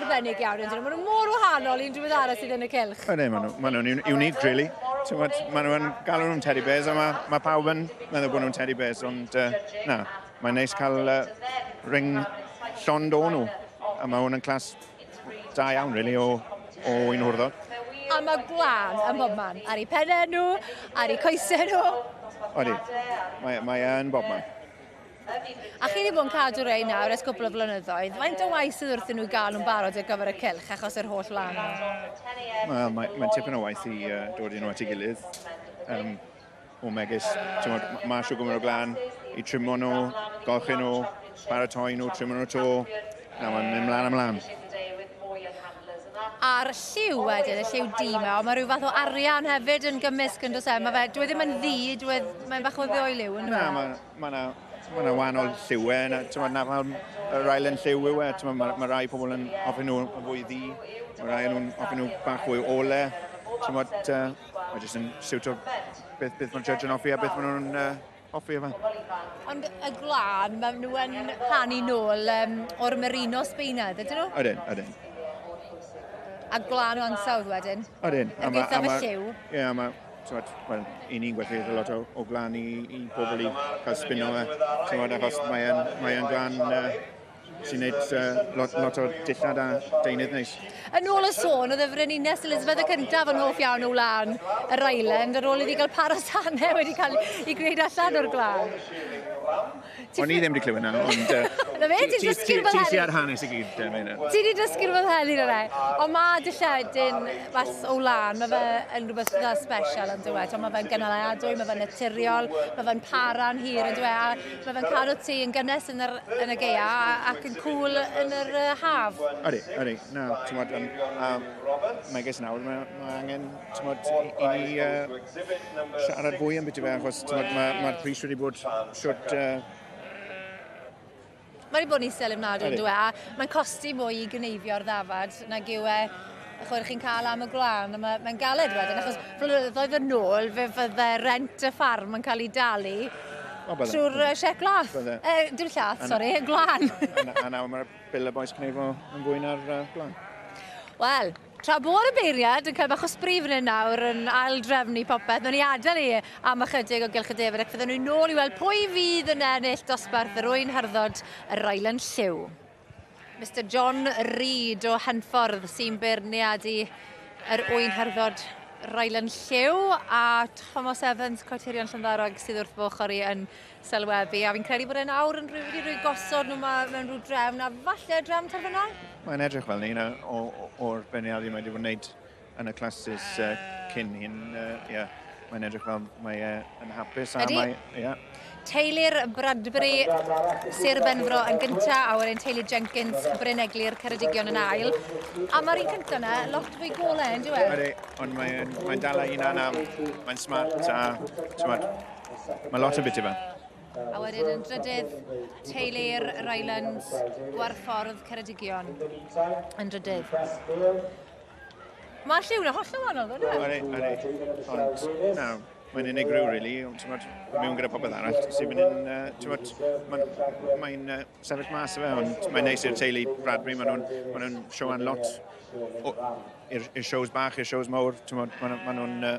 arbennig iawn ydyn nhw. Maen nhw mor wahanol i'n drwydd arall sydd yn y cylch. Ydyn, maen nhw'n ma nhw unique, really. Tywed, maen nhw'n galw nhw'n teddy bears, a mae ma pawb yn meddwl bod nhw'n teddy bears, ond uh, na, mae'n neis cael uh, ring llond o'n nhw. A mae hwn yn clas da iawn, really, o, o un hwrddod. A mae gwan ym mhob man, ar ei pennau nhw, ar ei coesau nhw. Odi, mae'n mae e yn bob man. A chi wedi bod yn cadw rei nawr ers cwpl o flynyddoedd. Faint o waith sydd wrthyn nhw gael nhw'n barod ar gyfer y cylch achos yr holl lan nhw? Wel, mae'n mae tipyn o waith i uh, dod i nhw at ei gilydd. Um, o megis, ti'n modd, mae siw gwmwyd o glan i trimo nhw, golchi nhw, paratoi nhw, trimo nhw to. Na, mae'n mynd mlaen ymlaen. A'r lliw wedyn, y lliw di yma, ond mae rhyw fath o arian hefyd yn gymysg yn dos e. Mae fe, dwi e ddim yn ddi, dwi e, mae'n bach o ddeoiliw yn dweud. Na, mae Mae yna ma na wahanol lliwau, e, na, ti'n na fel yr ail yn lliw yw e, ti'n mae ma rai pobl yn ofyn nhw yn fwy ddi, mae rai nhw'n ofyn nhw bach fwy ole, ti'n bod, uh, mae jyst yn siwt o beth, beth mae'r judge yn offi a beth maen nhw'n uh, offi yma. Ond y glân, maen nhw yn rhannu nôl um, o'r merino sbeinedd, ydyn nhw? Ydyn, ydyn. A glân o ansawdd wedyn? Ydyn. Yn gweithio fy lliw? Ie, yeah, mae Tywed, wel, i ni'n gwerthu a lot o, o glan i, i bobl i cael spino e. Tywed, achos mae'n mae glan uh, sy'n neud uh, lot, lot o dillad a deunydd neis. Yn ôl y sôn, oedd y Frenines Elizabeth y cyntaf yn hoff iawn o wlan yr island, ar ôl iddi gael paros anna wedi cael ei gwneud allan o'r glan. O'n i ddim wedi clywed na, ond... Na fe, ti'n dysgu'r fel hyn. Ti ar hanes i gyd, da, fe Ti wedi dysgu'r fel hyn i'r rai. Ond mae dilledyn mas o lan, mae fe yn rhywbeth dda special yn dweud. Mae fe'n gynaliadwy, mae fe'n naturiol, mae fe'n para'n hir yn dweud. A mae fe'n cadw ti yn gynnes yn, yr, yn y geia ac yn cool yn yr uh, haf. Ydy, ydy. Na, ti'n gwybod, um, um, megis nawr, mae, mae angen Tymod, i ni uh, siarad fwy am beth i fe, achos mae'r ma, ma pris wedi bod siwt uh, Mae wedi bod yn isel ymnadwy yn dweud, a mae'n costi mwy i gneifio'r ddafad nag yw e chwer chi'n cael am y gwlân, mae'n ma galed wedyn, achos flynyddoedd yn ôl fe fydde rent y ffarm yn cael ei dalu trwy'r uh, siec glath. E, dim llath, sori, y gwlân. A nawr mae'r bil y boes cneifo yn fwy na'r uh, gwlân. Wel, Tra bod y beirniad yn cael bach o sbri fan hyn nawr yn ail-drefnu popeth, wnawn ni adael e am ychydig o Gylch y Defaid ac fyddwn ni nôl i weld pwy fydd yn ennill dosbarth yr Ŵyn Harddod, y Rylands Lliw. Mister John Reid o Henffordd sy'n beirniad i yr Ŵyn Harddod, Rylands Lliw a Thomas Evans, croetirion Llyndarog sydd wrth fy ochr i yn sylwebu, a fi'n credu bod e'n awr yn rhyw wedi rhoi gosod nhw mae mewn rhyw drefn, a falle drefn terfynol? Mae'n edrych fel ni, na, o'r beirniadu mae wedi bod yn gwneud yn y clasys uh, cyn hyn, uh, yeah, mae'n edrych fel mae e yn hapus, a Ydy. mae, yeah. Teilir Bradbury, Sir Benfro yn gynta, a wedyn teulu Jenkins, Bryn Eglur, Ceredigion yn ail. A mae'r un cynta yna, lot fwy golau, yn diwedd? Ydy, ond mae'n mae dal a un anaf, mae'n smart a, ti'n Mae lot o biti fe. A wedyn yn drydydd, Teulu'r Rylands, Gwarffordd Ceredigion. Yn drydydd. Mae'r lliw na holl yn wahanol, ddo, dwi? Ori, ori. Ond, na, mae'n unigryw, really. Ond, mewn gyda popeth arall, sy'n mynd yn, uh, mae'n mae uh, sefyll mas fe, ond mae'n neis i'r teulu Bradbury, maen nhw'n ma nhw sioan lot i'r shows bach, i'r shows mawr, ti'n maen nhw'n uh,